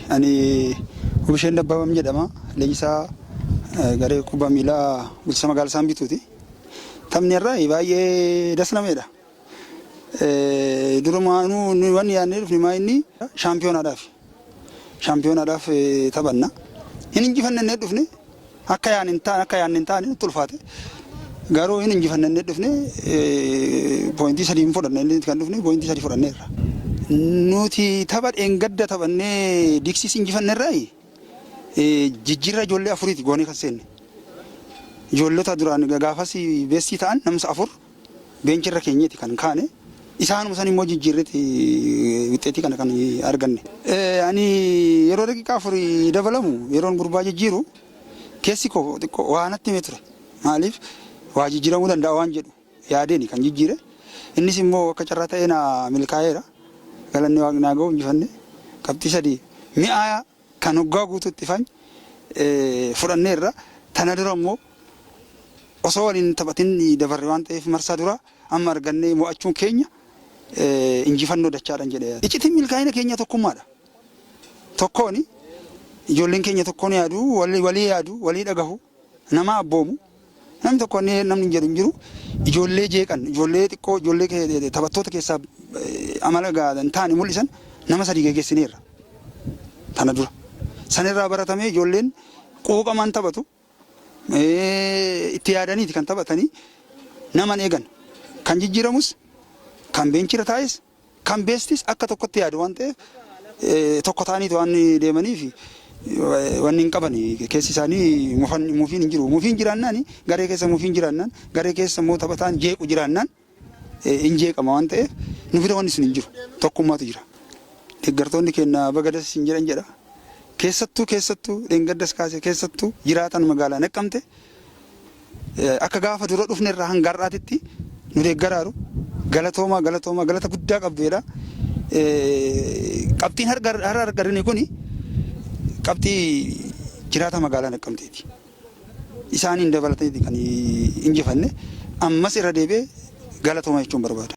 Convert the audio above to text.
Ani Wubisheet Dabbabaan jedhama. Leenjisaa garee kubbaa miilaa bulchiinsa magaalaa Saanbituuti. Taphni har'aa baay'ee das nama jedha. Durumaanuu nuyi wanni yaadnee dhufne maa inni shaampiyoonaadhaaf. Shaampiyoonaadhaaf taphanna. Hin injifanne jennee dhufne Akka yaadne hin taane akka yaadne hin taane nutti ulfaate. Garuu hin injifanne inni dhufne pooyintii sadii hin fudhanne inni kan dhufne pooyintii sadii fudhanneerra. Nuti tapha dheengadda taphannee diksiis injifannerraa jijjiirraa ijoollee afuriiti goonee kan seenne. Ijoollota duraan gaafas beessii ta'an namsa afur Beenchi irra keenyeeti kan kaane. Isaanuma san immoo jijjiirreeti wixxeetii kana kan arganne. Ani yeroo daqiiqaa afur dabalamu yeroon gurbaa jijjiiru keessi koo xiqqoo waa natti himee ture. Maaliif waa jijjiiramuu danda'a waan jedhu yaadeeni kan jijjiire. Innis immoo akka carraa ta'ee naa milkaa'eera. Galanni Waaqni haa ga'u injifannee qabxii sadii mi'aayaa. Kan waggaa guutuutti ifan fudhanneerra. Tana dura immoo osoo waliin hin taphatin dabarre waan ta'eef marsaa duraa amma argannee mo'achuun keenya injifannoo dachaadhan jedhee yaada. Iccitiin milkaa'ina keenyaa tokkummaadha. Tokkooni. Ijoolleen keenya tokkoon yaadu, walii yaadu, walii dhagahu. Nama abboomu namni tokko wanni namni jedhu hin jiru. Ijoollee jeeqan, ijoollee xiqqoo, ijoollee ke- taphattoota keessaa eh, amala gaarii hin taane mul'isan nama sadii geggeessineerra. Tana dura. Sanirraa baratamee ijoolleen quuqamaan taphatu. Eh, Itti yaadaniiti kan taphatanii naman eegan. Kan jijjiiramus kan beenchira taa'es Kan beestis akka tokkotti yaadu waan ta'eef tokko ta'aniiti waan deemaniif wanni hin qaban keessi isaanii mufiin hin jiru. Mufiin jiraannaan garee keessa mufiin jiraannaan garee keessa immoo taphataan jeequ jiraannaan hin jeeqama waan ta'eef nu bira wanni sun hin jiru tokkummaatu jira. Deeggartoonni keenya baga das isin jedhan jedha. Keessattuu keessattuu dheengaddas kaasee keessattuu jiraataan magaalaa naqqamte Akka gaafa dura dhufne irraa hanga har'aatitti nu deeggaraaru galatoomaa galatoomaa galata guddaa qabdu jedha. Qabxiin har'a argine kun qabxii jiraata magaalaa Naqqamteeti. Isaaniin dabalatee kan injifanne ammas irra deebi'ee galatoomaa jechuun barbaada.